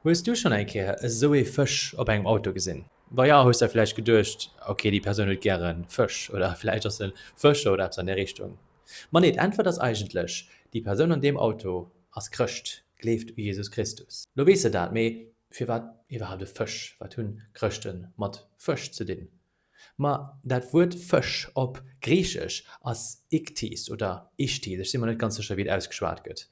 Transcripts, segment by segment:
Hues du schonn eng Kéier esou ee Fësch op engem Auto gesinn? Wa jo, hues der vläicht geduecht, ok, déi Persoun huet gäre Fësch oder vläicht ass e Fëscher oder eppes an där Richtung. Ma nee, d'Äntwert ass eigentlech, déi Persoun an deem Auto ass Chrëscht, gleeft u Jesus Christus. Lo weess der dat, mee firwat iwwerhaapt e Fësch? Wat hunn Chrëschte mat Fësch ze dinn? Ma dat Wuert Fësch op Griichesch ass Ichthys oder Ichthys, ech si mer net ganz sécher, wéi et ausgeschwat gëtt.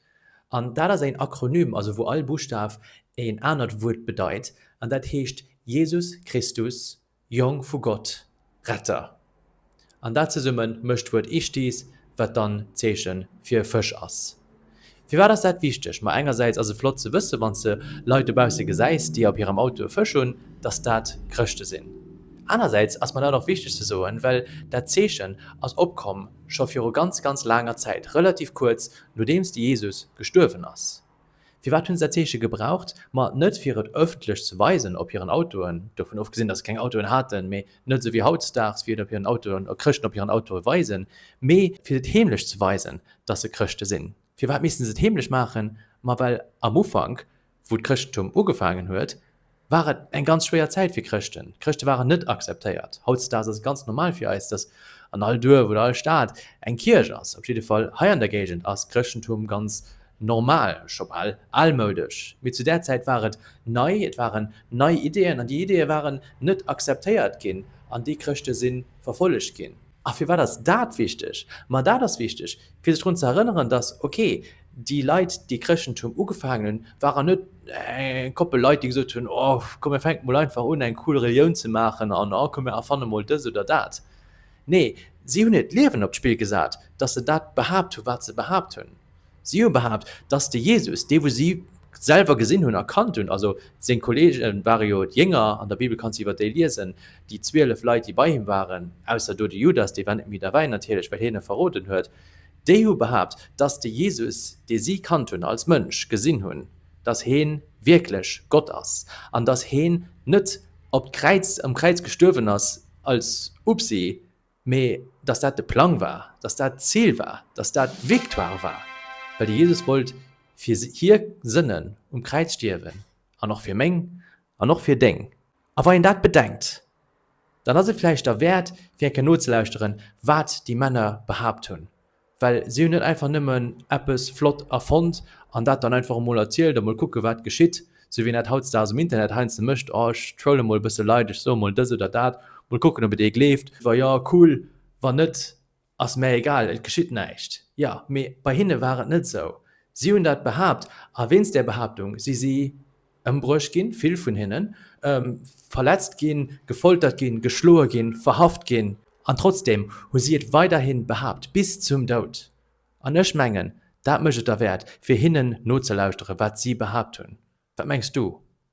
An dat ass een Akronym, also wou all Buschtaf een anert Wuert bedeit, an dat heescht Jesus Christus, Jong vu Gott, Retter. An dat zesumme mécht d'Wuert Ichthys, wat dann d'Zeeche fir Fësch ass. Firwat ass dat wichteg? Ma engersäits ass et flott ze wëssen, wann s de Leit dobausse gesäis, déi op hirem Auto e Fësch hunn, dass dat Chrëschte sinn. Anersäits ass mer dat och wichteg ze soen, well dat Zeechen ass opkomm scho viru ganz, ganz laanger Zäit, relativ kuerz nodeems de Jesus gestuerwen ass. Firwat hunn se dat Zeeche gebraucht? Ma net fir et ëffentlech ze weisen op hiren Autoen, dovun ofgesinn, dass se keng Autoen haten, mee, Net esou wéi hautdesdaags, wéi et op hiren Autoen, oder Chrëschten op hiren Autoe weisen, mee fir et heemlech ze weisen, datt se Chrëschte sinn. Firwat misste se et heemlech maachen? Ma well am Ufank, wou d'Chrëschtentum ugefaangen huet, war et eng ganz schwéier Zäit fir Chrëschten. D'Chrëschte waren net akzeptéiert. Hautdesdaags ass et ganz normal fir eis, datt an all Duerf oder all Stad eng Kierch ass. Op jidde Fall hei an der Géigend ass d'Chrëschtentum ganz Normal, scho bal almoudesch, mee zu där Zäit war et nei, et waren nei Ideeën an déi Ideeë waren net akzeptéiert ginn an déi Chrëschte si verfollegt ginn. A firwat ass dat wichteg? Ma dat ass wichteg, fir sech drun ze erënneren, dass, okay, déi Leit, déi Chrëschtentum ugefaangen hunn, waren net eng Koppel Leit, déi gesot hunn, O komm, mir fänke mol einfach un, eng cool Relioun ze maachen an o komm, mir erfanne mol dës oder dat. Nee, si hunn hiert Liewen op d'Spill gesat, dass se dat behaapt hunn, wat se behaapt hunn. Si hu behaapt, dass de Jesus, dee wou si selwer gesinn hunn a kannt hunn, also seng Kolleege ware jo d'Jénger, an der Bibel kanns de iwwer déi liesen, déi zwielef Leit, déi bei him waren, ausser do de Judas, dee war net méi derbäi natierlech, well hien e verroden huet, déi hu behaapt, dass de Jesus, dee si kannt hunn als Mënsch, gesinn hunn, dass hie wierklech Gott ass an dass hien net op d'Kräiz, am Kräiz gestuerwen ass als Upsi, Mee datt dat de Plang war, datt dat d'Zil war, datt dat d'Victoire war, well de Jesus wollt fir hir Sënnen um Kräiz stierwen, an och fir meng an och fir deng. A wa een dat bedenkt, dann ass et vläicht derwäert, fir eng Kéier nozelauschteren, wat déi Männer behaapt hunn, Well si hunn net einfach nëmmen eppes flott erfonnt an dat dann einfach emol erzielt a mol kucke wat geschitt, sou wéi een dat hautdesdaags um Internet heiansdo mécht, oh ech trolle mol e bësse Leit, ech soe mol dës oder dat, mol kucken ob et ee gleeft, wa jo, cool, wann net, ass mä egal, et geschitt näischt. Jo, mee bei hinne war et net esou. Si hunn dat behaapt a wéinst där Behaaptung si si. Ëmbruecht ginn, vill vun hinnen, verletzt ginn, gefoltert ginn, geschloe ginn, verhaft ginn. An trotzdeem hu si et weiderhi behaapt, bis zum Doud. An ech mengen, dat mécht et derwäert, fir hinnen nozelauschteren, wat si behaapt hunn. Wat mengs du?